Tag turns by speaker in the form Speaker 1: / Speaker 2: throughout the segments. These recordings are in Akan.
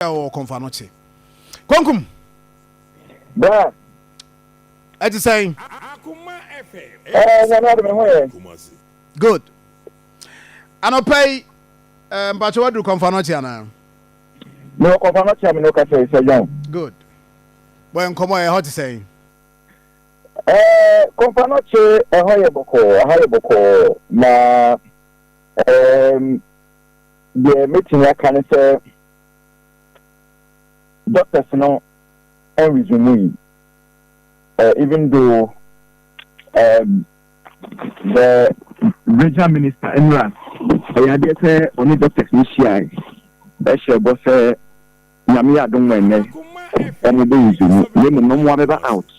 Speaker 1: ɛ ɔ kɔnfa no kye. Kɔnkum.
Speaker 2: Bra.
Speaker 1: Ɛ ti sɛn. Ɛ nyame
Speaker 3: adi me ho yɛ.
Speaker 1: Good. Anɔpɛ yi ɛ mpatsɛ waduru kɔnfa no kye anaa. Mi
Speaker 2: wɔ kɔnfa no kye a mi n'o kasa yi sɛ John. Good.
Speaker 1: Bɔ yɛ nkɔmɔ ɛhɔ ti sɛn. Ɛ
Speaker 2: kɔnfa no kye ɛhɔ yɛ bɔkɔɔ ɛha yɛ bɔkɔɔ na ɛɛm deɛ mɛtumi aka ne sɛ. Doctors no en resume yi uh, even though um, the regional minister Emra ɛyɛ adeɛ sɛ ɔne doctors no hyiae ɛhyɛ bɔ sɛ nyame yɛ adom ɛnɛ ɔmo bɛ resume na mmom na ɔmo abɛba out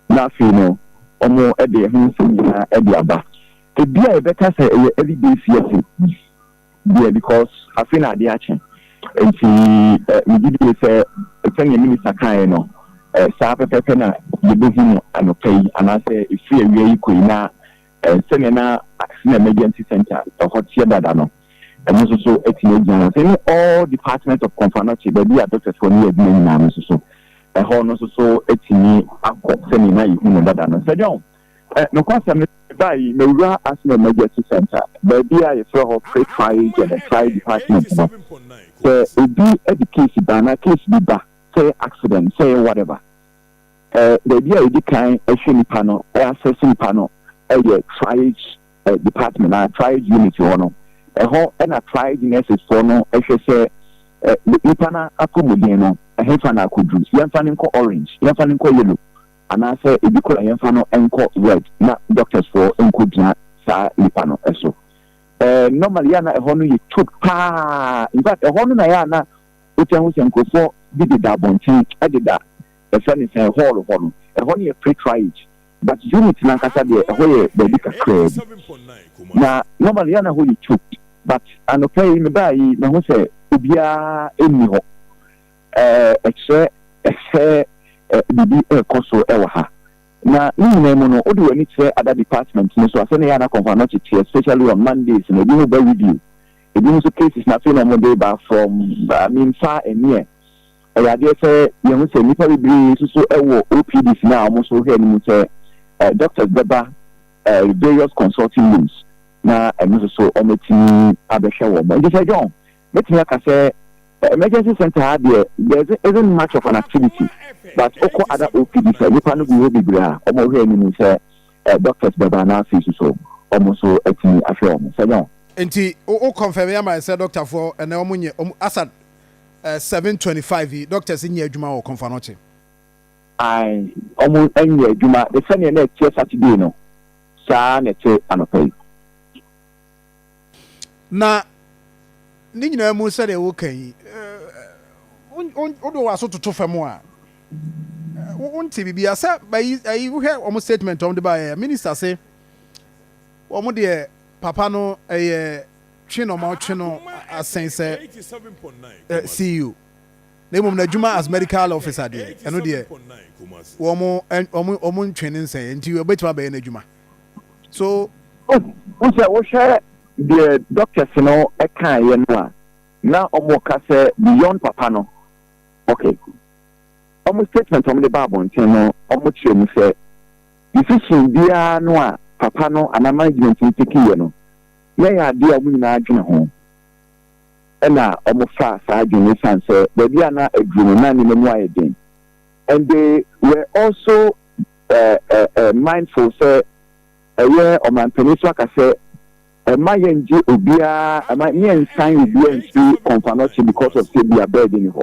Speaker 2: na afei no ɔmo ɛde ɛho nsɛm nyinaa ɛde aba ebi a ɛbɛka sɛ ɛyɛ early days yɛte deɛ because afei na adeɛ akye nti eh, megye die sɛ sɛdeɛ minista kaeɛ no eh, saa pɛpɛpɛ na yɛbɛhu no anɔpa yi anaasɛ ɛfiri awia yi kɔ yi na eh, sɛdeɛ na accident emergency center ɛhɔ teɛ dada no ɛno nso so atumi agyina hɔ sɛ ne all department of confanɔkye baabi a doctors fɔ no yɛ adwuma nyinaa no nso so ɛhɔ no nso so atumi akɔ sɛdeɛ na yɛhu no dada no sɛ dɛn Ɛ, nokwasɛm ne sɛ, mebaa yi, mewuraa Arsenal Emergency Centre, baabi a yɛfrɛ hɔ Quick Fire Agent and Fire Department no. Sɛ obi de case ba, anaa case bi ba, sɛ ɛyɛ accident, sɛ ɛyɛ whatever, ɛ, baabi a yɛdi kan hwɛ nnipa no, ɛ, assess nnipa no, ɛyɛ Triage, ɛ, Department, anaa Triage Unit hɔ no. Ɛhɔ na Triage Nurses foɔ no hwɛ sɛ, ɛ, nnipa no apɔmuden no, ɛhefa na akodu. Yɛmfa no nkɔ Orange, yɛmfa no nkɔ Yellow. Anaasɛ ebi koraa yɛmfa no nkɔ ward na doctors foɔ nkɔgyina saa nipa no so. Eh normally yɛ a na ɛhɔ no yɛ choked paa infact ɛhɔ no na yɛ a na wotaa hu sɛ nkurɔfoɔ bi deda abɔnten deda yɛfrɛ no sɛn hall hɔ no. Ɛhɔ no yɛ pretriage but unit no ankasa deɛ ɛhɔ yɛ baabi kakraa bi na normally yɛ a na ɛhɔ yɛ choked but anɔpa yi mebaeɛ yi mahu sɛ obiara nni hɔ. Ɛkyerɛ sɛ biribi rekɔ so wɔ ha. Na ne nyinaa mu no, wode w'ani kyerɛ other departments no so a, sɛnea ɛyɛ a na akɔmfo ano kyekye, especially on Mondays no, ebinom ba review, ebinom nso cases na afei na wɔde reba from, I mean, far and near. Ɛyɛ adeɛ sɛ yɛhu sɛ nnipa bebree nso so wɔ OPDs no a wɔn nso hwɛ no mu sɛ doctors bɛba various consulting rooms na ɛno nso so wɔatumi abɛhwɛ wɔn. Nti sɛ John, Mɛtumi aka sɛ emergency centre ha deɛ there isn't much of an activity but wokɔ other OPDs a nnipa no gu hɔ bebree a wɔn hwɛ anim sɛ doctors bɛba anaa fees nso wɔn nso atumi ahwɛ wɔn sɛ nyɛ. Nti wo
Speaker 1: confirm ama yɛn sɛ doctor foɔ ɛnɛ wɔn nyɛ wɔn asa seven twenty five yi doctors nyɛ adwuma wɔ Komfanoche. Ae
Speaker 2: wɔn nyɛ adwuma ne sɛdeɛ na ɛteɛ Saturday no saa na ɛte anɔpa yi.
Speaker 1: Na ne nyinaa mu sɛdeɛ woka yi, wode w'aso toto fam a, wonte biribi a sɛ bayi ayi wohwɛ wɔn statement wɔn de baeɛ minister se wɔn deɛ papa no ɛyɛ twe na wɔn atwe no asen sɛ CEO na mmom n'adwuma as medical officer deɛ ɛno deɛ wɔn wɔn wɔn ntwe ne nsɛn nti wɔbɛtumi abɛyɛ n'adwuma. so. Wohu
Speaker 2: sɛ wohwɛ deɛ doctors no kaeɛ no a, na wɔka sɛ beyond papa no, okay, wɔn statement a wɔde ba abɔnten no, wɔkyerɛ mu sɛ decision biara no a papa no anaa management no take yɛ no, na ɛyɛ adeɛ a wɔn nyinaa dwene ho. Ɛna wɔfa saa adwene no san sɛ baabi a na aduru no na nneɛma mu ayɛ den. And they were also mindful sɛ ɛyɛ ɔmanpanin so aka sɛ ɛma yɛn gye obiara ɛma ne yɛn nsan obiara nsi kɔnfanɔkye because of sɛ bia bɛɛdi ne hɔ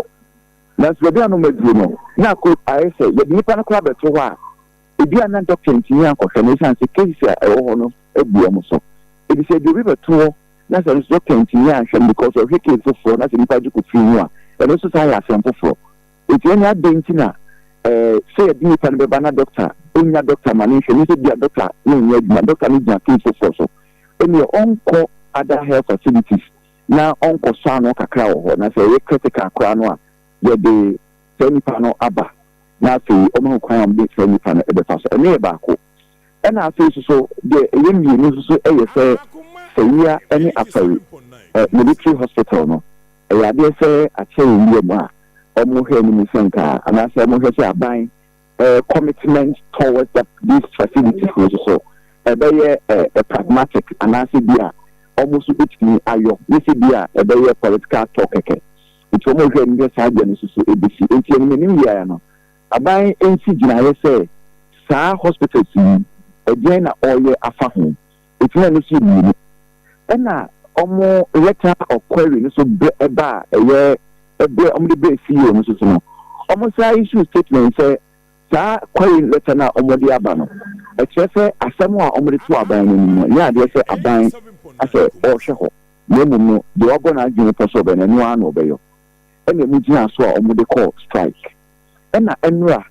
Speaker 2: nanso baabi a no maduro no na akɔ ayɛ sɛ yɛde nipa no koraa bɛto hɔ a ebi a na dɔkta ntumi ankɔhwɛ no ɛsiane sɛ cases a ɛwɔ hɔ no abu wɔn so ebi sɛ ebi obi bɛto hɔ na sɛ no dɔkta ntumi anhwɛ no because ɔhwɛ case foforɔ na sɛ nipa gye kɔ firi mu a ɛno nso saa yɛ asɛm foforɔ Enti ɛnde adɛn nti na eh, sɛ yɛde nnipa no bɛba na dɔkta nnya dɔkta ma no nhwɛ no sɛ bia dɔkta no nyɛ adwuma, dɔkta no gyina case foforɔ so, ɛnneɛ ɔnkɔ other health facilities na ɔnkɔsɔ ano kakra wɔ hɔ, na sɛ ɛyɛ critical koraa no a, yɛde saa nnipa no aba na afei ɔma ho kwan a wɔde saa nnipa no bɛfa so. Ɛno yɛ baako. Ɛna afei soso deɛ ɛyɛ mmienu soso yɛ sɛ Sawia ne Afari Military Hospital no ɛyɛ adeɛ sɛ akyɛ wɔn wura mu a wɔn hwɛ anim sɛ nka anaa sɛ wɔn hwɛ sɛ aban commitment towards that these facilities no soso ɛbɛyɛ ɛ pragmatic anaa sɛ bi a wɔn nso bɛtumi ayɔ ne sɛ bi a ɛbɛyɛ political talk kɛkɛ nti wɔn hwɛ anim sɛ saa deɛ no soso ɛbɛsi nti ɛnim anim yɛ no Aban nsi gyinaeɛ sɛ saa hospitals yi ɛdeɛn na ɔreyɛ afa ho? Ɛtumi a no so yɛ mmienu. Ɛna ɔmo letter of query no so brɛ ɛba a ɛyɛ ɛbrɛ ɔmo de brɛ CEO no so so no ɔmo san issue statement sɛ saa query letter no a ɔmo de aba no ɛkyerɛ sɛ asɛm a ɔmo de to aban no anim no nyɛ adeɛ sɛ aban asɛ ɔrehwɛ hɔ na mmom no deɛ wabɔ n'adwene pɔ sɛ ɔbɛyɛ no ɛno ara na ɔbɛyɔ. ɛna ɛmu gyinaa so a ɔmo de kɔɔ strike ɛna ɛnora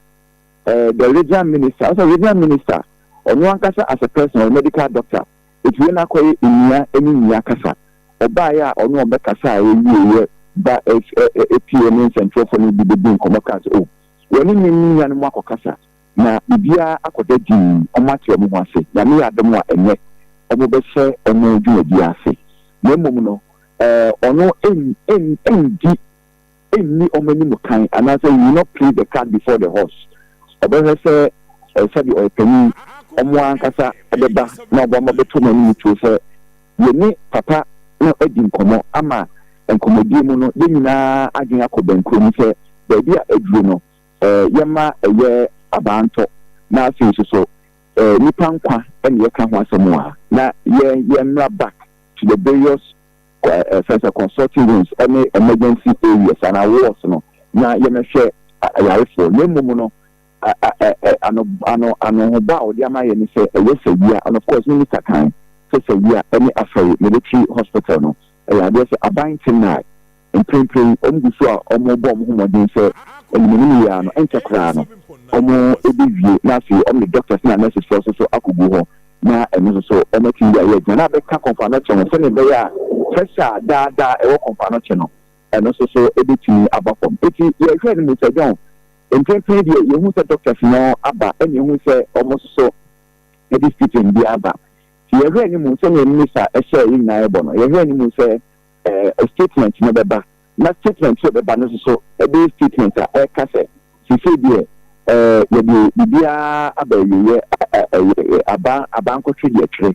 Speaker 2: ɛɛ the regional minister ɔsɛ regional minister ɔno ankasa as a person ɔyɛ medical doctor ɛti wei na akɔyɛ nnua ɛne nnua kasa ɔbaayɛ a ɔno ɔbɛ kasa a ɛwie yɛ ba ɛti ɛne nsɛnkyerɛfoɔ no bi bɛ di nkɔmɔ kaa sɛ o wɔne ne ne nua no mu akɔ kasa. Na biribiara akɔda dinn, wɔate wɔn ho ase. Nyame yɛ adom a ɛnnɛ wɔbɛhyɛ wɔn dwumadie ase. Na mmom no, ɔno nndi nni wɔn anim kan, anaasɛ he will not place the cart before the horse. Ɔbɛhwɛ sɛ sɛdeɛ ɔyɛ panin, wɔn ara ankasa bɛba na wɔn mma bɛto no anim tuo sɛ yɛne papa no adi nkɔmmɔ ama nkɔmmɔdie mu no yɛn nyinaa adwene akɔ bɛnkorɔ mu sɛ baabi a aduro no yɛma ɛyɛ abantɔ, na afei nso so nnipa nkwa na yɛka ho asɛm a, na yɛn mmra back to the various ɛfɛn sɛ consulting rooms ne emergency areas anaa wards no na yɛmɛhwɛ ayarefoɔ na mmom no ano ano anohoba a wɔde ama yɛ ne sɛ ɛyɛ sawia and of course minister kan sɛ sawia ne afɛre military hospital no ɛyɛ adeɛ sɛ aban te nnae Mprempren wɔgu so a wɔrebɔ wɔn ho mmɔden sɛ wɔde m'anim wie a no ɛnkyɛ koraa no wɔbewie na afei wɔde doctors na nurses foɔ nso so akogu hɔ na ɛno nso so wɔatumi de ayɛ adwuma na abɛka kɔmfanokyɛ ho sɛnea ɛbɛyɛ a pressure a daa daa ɛwɔ kɔmfanokyɛ no ɛno nso so ɛbɛtumi aba fam. Enti yɛhwɛ no Mister John mprempren deɛ yɛhu sɛ doctors no aba ɛna yɛhu sɛ wɔn nso so ɛde stipend bi aba nti yɛhwɛ anim sɛnea mmisa ɛhyɛ yɛn nyinaa ɛbɔ no yɛhwɛ anim sɛ eh, statement no bɛba, na statement sɛ bɛba no soso ɛbɛyɛ statement a ɛka sɛ sesei deɛ eh, yɛde biribiara aba awieɛ, aba abankɔtwe deɛ twere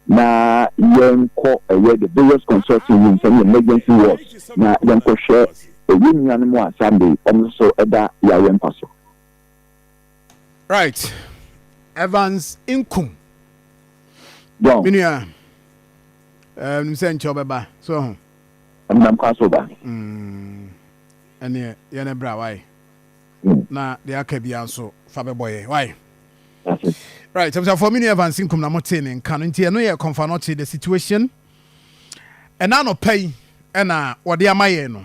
Speaker 2: na yɛnkɔ ɛyɛ the various consulting rooms ɛne emergency wards na yɛnkɔhwɛ ɛyɛ nuanom a Sunday ɔmo nso ɛda yareɛ mpa so. right
Speaker 1: evans nkum
Speaker 2: me nua
Speaker 1: ɛɛ nim sɛ nkyɛw bɛba so ho. ɛnam kwan
Speaker 2: so ba. Mm.
Speaker 1: ɛneɛ yɛn ne bra wae mm. na deɛ aka bia nso fa bɛbɔ yɛ wae right abusuafoɔ me nua evans nkum na motee ne nka no nti ɛno yɛ kɔmfa no ɔkye the situation ɛna anɔpa yi ɛna wɔde ama yɛn no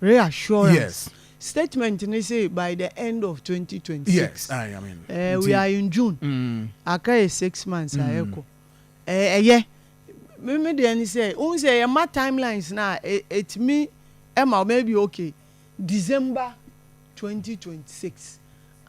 Speaker 3: Reassurance
Speaker 1: statement ne
Speaker 3: se by the end of twenty twenty six
Speaker 1: ɛɛ we are in June
Speaker 3: aka yɛ six months a ɛkɔ ɛɛ ɛyɛ me me deɛ ne sɛ wohu sɛ yɛ ma time lines no a ɛ ɛtumi ɛma maybe okay December twenty twenty six.